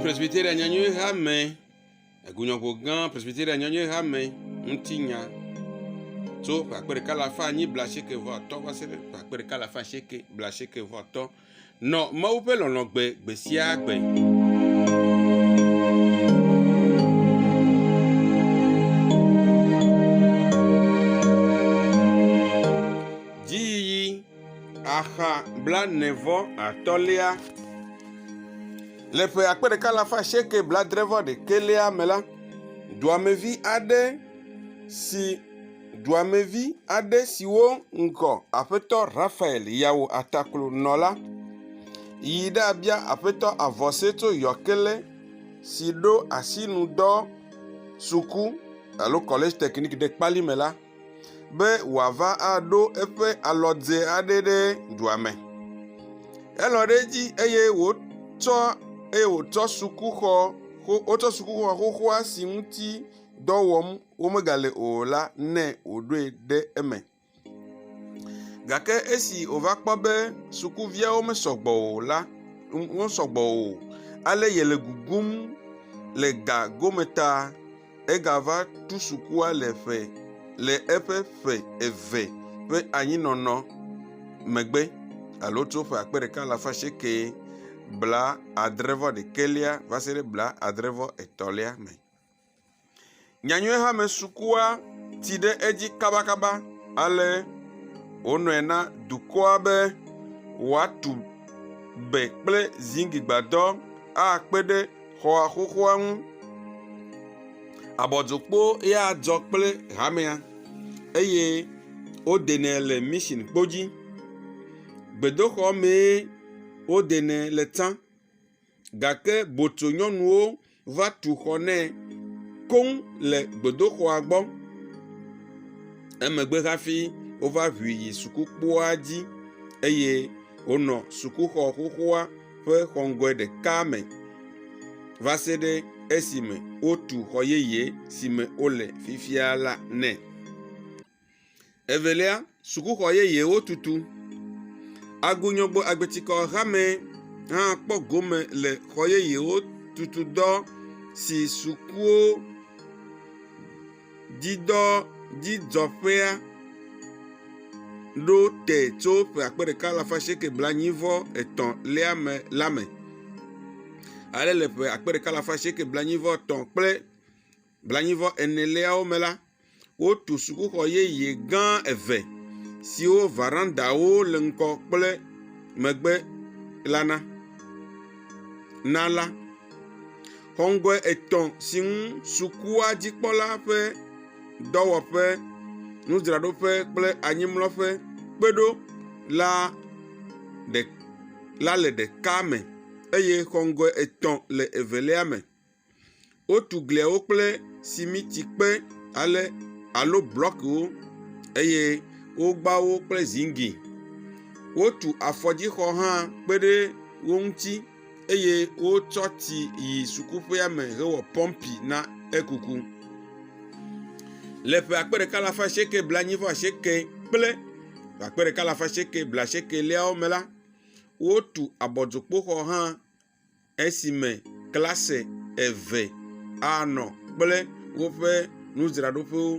Presbyteria Nyanyui Hame, Egunyɔƒo gã Presbyteria Nyanyui Hame ŋuti nya tso ƒe akpe ɖeka alafa anyi blaasieke vɔ atɔ̃ va se ɖe ƒe akpe ɖeka alafa asieke blaasieke vɔ atɔ̃. Nɔ Mawu ƒe lɔlɔ̃ gbe gbe sia gbe. axa blaene-vɔ atɔ̃lia. Le ƒe akpe ɖeka alafa asieke bladre-vɔ-ɖekɛlia me la, duamevi aɖe si. Duamevi aɖe siwo ŋgɔ Aƒetɔ Raphael ya wɔ ataklo nɔ la yi ɖabia Aƒetɔ Avɔseto Yɔkele si ɖo asinudɔ suku alo kɔlɛdzi tɛkniki ɖe kpali me la be wòava aɖo eƒe alɔdze aɖe ɖe dua me. Elɔ̃ ɖe edzi eye wotsɔ eye wotsɔ sukuxɔ xo wotsɔ sukuxɔ xoxoa si ŋuti dɔ wɔm womegale o la nɛ wòɖoe ɖe eme. Gake esi wòva kpɔ be sukuviawo mesɔ gbɔ o la, wosɔ gbɔ o ale yele gugum le ga gome ta egava tu sukua le ƒe le eƒe ƒe eve ƒe anyinɔnɔ megbe alo tso ƒe akpe ɖeka alafa asieke bla adre vɔ ɖekɛlia va se ɖe bla adre vɔ etɔ̃lia me. Nyanyuie hame sukua tsi ɖe edzi kabakaba ale wonɔe na dukɔa be woatu be kple zigli gbadɔ akpe ɖe xɔa xoxoa ŋu. Abɔdzokpo ya dzɔ kple hamea eye wodenɛ le mission kpo dzi. Gbedoxɔ mee wodenɛ le tsã. gake botsonyɔnuwo va tu xɔ nɛ koŋ le gbedoxɔa gbɔ. Emegbe hafi wova ʋui yi sukukpoa dzi eye wonɔ sukuxɔ xoxoa ƒe xɔ ŋgɔe ɖeka me va se ɖe esime wotu xɔ yeye si me wole fifia la nɛ. Evelia, sukuxɔ yeyewo tutu. Agunyɔgbe agbetikɔ hamɛ hã kpɔ gome le xɔ yeyewo tutu dɔ si sukuwo dzidɔ dzidzɔƒea ɖo te tso ƒe akpe ɖeka alafa asieke blaenyi vɔ etɔ̃ lia me la me. Ale le ƒe akpe ɖeka alafa asieke blaenyi vɔ etɔ̃ kple. blaenyi-vɔ eneawo me la, wotu sukuxɔ yeye gã eve siwo verandawo le ŋgɔ kple megbe la na. Na la, xɔ ŋgɔe etɔ si ŋu sukua dzikpɔla ƒe dɔwɔƒe, nudzraɖoƒe kple anyimlɔƒe kpe ɖo la ɖe la le ɖeka me eye xɔ ŋgɔe etɔ̃ le evelia me. Wotu gliawo kple simitikpe ale alo blɔkiwo eye wogba wo kple ziŋgli. Wotu afɔdzixɔ hã kpe ɖe wo ŋuti eye wotsɔ tsi yi sukuƒea me hewɔ pɔmpi na ekuku. Le ƒe akpe ɖeka alafa asieke blaenyi-vɔ-asieke kple ƒe akpe ɖeka alafa asieke blaasiekeliawo me la, wotu abɔdzokpoxɔ hã. esime klase eve anɔ kple woƒe nudzraɖoƒewo.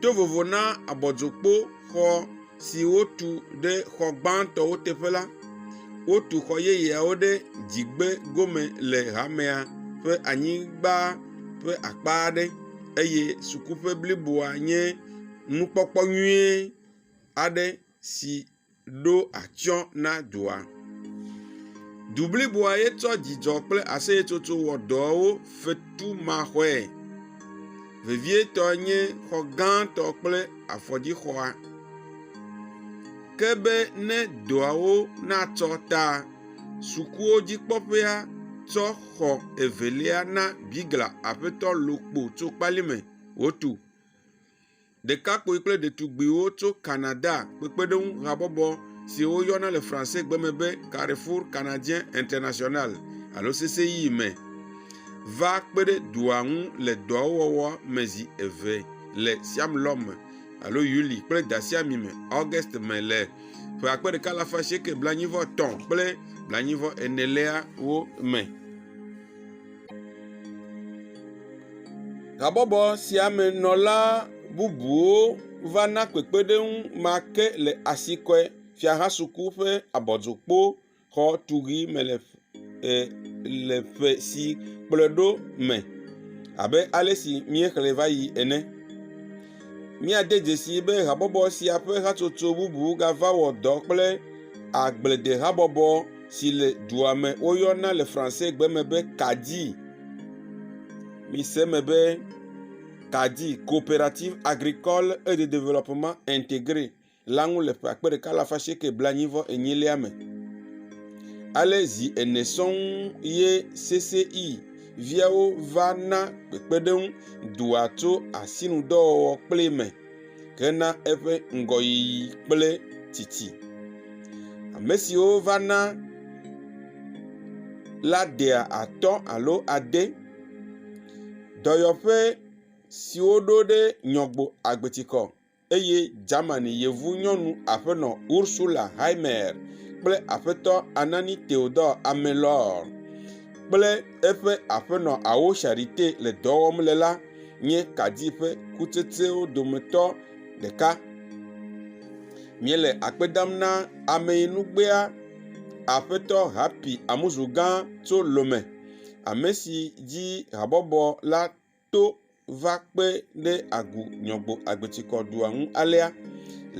To vovo na abɔdzokpoxɔ si wotu ɖe xɔ gbãtɔwo teƒe la, wotu xɔ yeyeawo ɖe dzigbe gome le hamea ƒe anyigba ƒe akpa aɖe eye sukuƒe bliboa nye nukpɔkpɔ nyui aɖe si. ɖo atsyɔ̃ na dua. Du bliboa ye tsɔ dzidzɔ kple aseyetsotso wɔ dɔwo fetumaxɔe. Vevietɔe nye xɔ gãtɔ kple afɔdzixɔa. Ke be ne dɔawo natsɔ ta sukuwo dzikpɔƒea tsɔ xɔ evelia na Bigla Aƒetɔ Lokpo Tsokpalime wòtu. Ɖekakpui kple ɖetugbuiwo tso Canada kpekpeɖeŋu habɔbɔ si woyɔna le Francegbe me be Carrefour Canadien International alo CCI me va kpe ɖe dua ŋu le dɔawo wɔwɔ me zi eve le Siamlɔ me alo Yuli kple Dasiami me, August me le ƒe akpe ɖeka alafa asieke blaenyi-vɔ-etɔ̃ kple blaenyi-vɔ-eneliawo me. Habɔbɔ sia me nɔla bubuwo va na kpekpeɖeŋu ma ke le Asikɔe Fiahasuku ƒe abɔdzokpoxɔ tuʋi me le e le ƒe si kplɔe ɖo me abe ale si míexlẽ va yi ene. Míade dzesii be habɔbɔ sia ƒe hatsotso bubu gava wɔ dɔ kple agbledehabɔbɔ. si le dua me woyɔna le Fransegbe me be Kadi. Mise eme be Kadi, Coopérative agricole et de développement intégré, la ŋu le ƒe akpe ɖeka alafa asieke blaenyi vɔ enyilia me. Ale zi ene sɔŋ ye CCI viawo va na kpekpeɖeŋu dua tso asinudɔwɔwɔ kple me. hena eƒe ŋgɔyiyi kple tsitsi. Ame siwo va na la dea atɔ̃ alo ade. Dɔyɔƒe siwo ɖo ɖe Nyɔgbo agbetikɔ eye Germany yevu nyɔnu aƒenɔ Ursula Heimer kple aƒetɔ Anani Theodor Amelor kple. eƒe aƒenɔ Awo Sharite le dɔ wɔm le la nye kadi ƒe kutsetsewo dometɔ ɖeka. Míele akpe dam na ameyinugbea Aƒetɔ Happy Amuzu gã tso Lome, ame si dzi habɔbɔ la. to va kpe ɖe Agu Nyɔgbo Agbetsikɔdua ŋu alea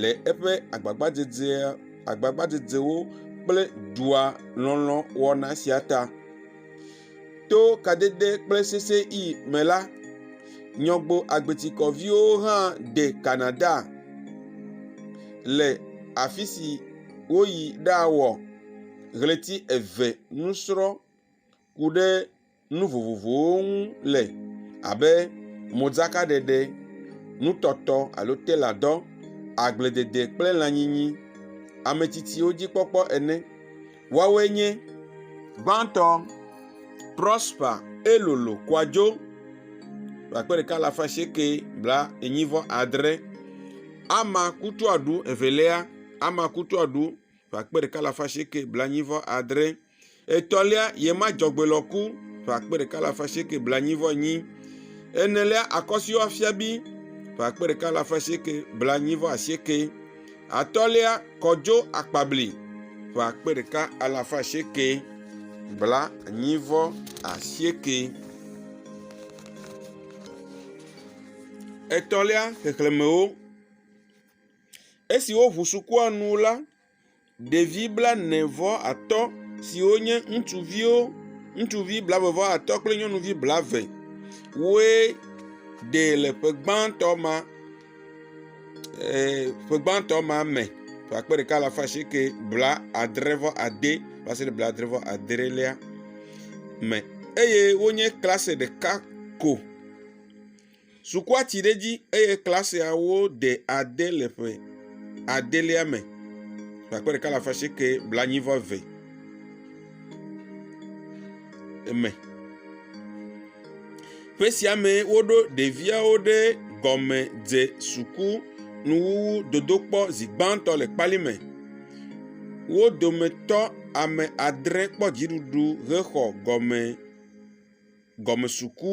le eƒe agbagbadzedzea, agbagbadzedzewo kple dua lɔlɔ̃ wɔna sia ta. To kadede kple sesẽɣi me la, Nyɔgbo Agbetsikɔviwo hã de Canada le afi si woyi ɖawɔ ɣleti eve nusrɔ̃ ku ɖe. nu vovovowo ŋu le abe modzakaɖeɖe, nutɔtɔ alo teladɔ, agbledede kple lãnyinyi, ametsitsiwo dzikpɔkpɔ ene. Woawoe nye, gbãtɔ, Prosper Elolo Koadjo ƒe akpe ɖeka alafa asieke blaenyi vɔ adre, Ama Kutu Adu evelia, Ama Kutu Adu ƒe akpe ɖeka alafa asieke blaenyi vɔ adre. Etɔ̃lia, ye ma dzɔgbe lɔ ku ƒe akpe ɖeka alafa asieke blaenyi vɔ enyi. Enelia, akɔsiwo afia bi ƒe akpe ɖeka alafa asieke blaenyi vɔ asieke. Atɔ̃lia, kɔdzo akpabli ƒe akpe ɖeka alafa asieke blaenyi vɔ asieke. Etɔ̃lia, xexlemewo. Esi woʋu sukua nu la, ɖevi blaene vɔ atɔ siwo nye ŋutsuviwo, ŋutsuvi blaeve vɔ atɔ kple nyɔnuvi blaeve woe ɖe le ƒe gbãtɔ ma eer ƒe gbãtɔ ma me ƒe akpe ɖeka alafa asieke blaadre vɔ ade va se ɖe blaadre vɔ adrelia me eye wonye klase ɖeka ko. Sukua tsi ɖe edzi eye klasiawo ɖe ade le ƒe adelia me ƒe akpe ɖeka alafa asieke blaenyi vɔ eve me. Ƒe sia me woɖo ɖeviawo ɖe gɔme dze suku nuwuwu dodokpɔ zi gbãtɔ le kpali me. Wo dometɔ ame adre kpɔ dziɖuɖu hexɔ gɔme gɔme suku.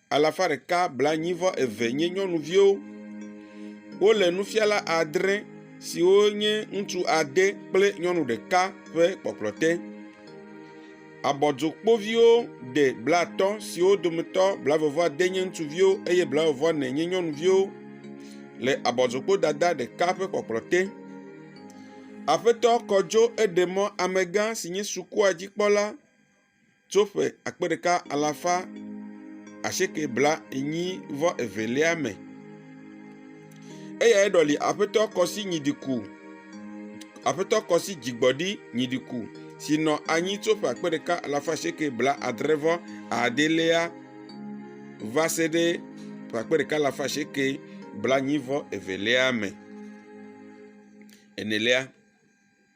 alafa ɖeka blaenyi-vɔ-eve (182) nye nyɔnuviwo. Wole nufiala adre siwo nye ŋutsu ade kple nyɔnu ɖeka ƒe kpɔkplɔ te. Abɔdzokpoviwo ɖe blatɔ siwo dometɔ blaeve-vɔ-ade nye ŋutsuviwo eye blaeve-vɔ-ene nye nyɔnuviwo le abɔdzokpodada ɖeka ƒe kpɔkplɔ te. Aƒetɔ Kodzo Edemɔ, amegã si nye sukua dzikpɔla. tso ƒe akpe ɖeka alafa asieke blaenyi vɔ evelia me. Eyae ɖɔli Aƒetɔ Kɔsi Nyidiku, Aƒetɔ Kɔsi Dzigbɔɖi Nyidiku si nɔ anyi tso ƒe akpe ɖeka alafa asieke blaadre vɔ adelia va se ɖe ƒe akpe ɖeka alafa asieke blaenyi vɔ evelia me. Enelia.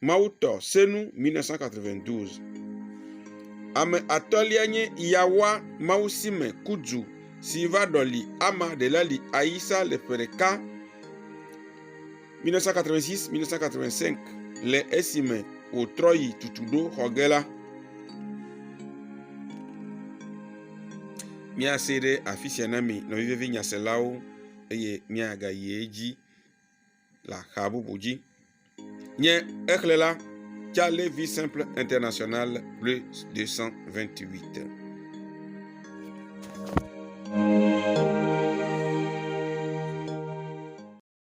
Mawutɔ senu 1992. Ame atɔ̃lia nye Yawa Mawusime Kudzu si va ɖɔli Ama Delali Ayisa le ƒe ɖeka, 1986-1985, le esime wòtrɔ yi Tutuɖo xɔ ge la. Míasee ɖe afi sia na mi nɔvi vevi nyaselawo eye míagayi edzi. le axa bubu dzi. Nye xexlẽ la, Ca le vi simple international plus 228.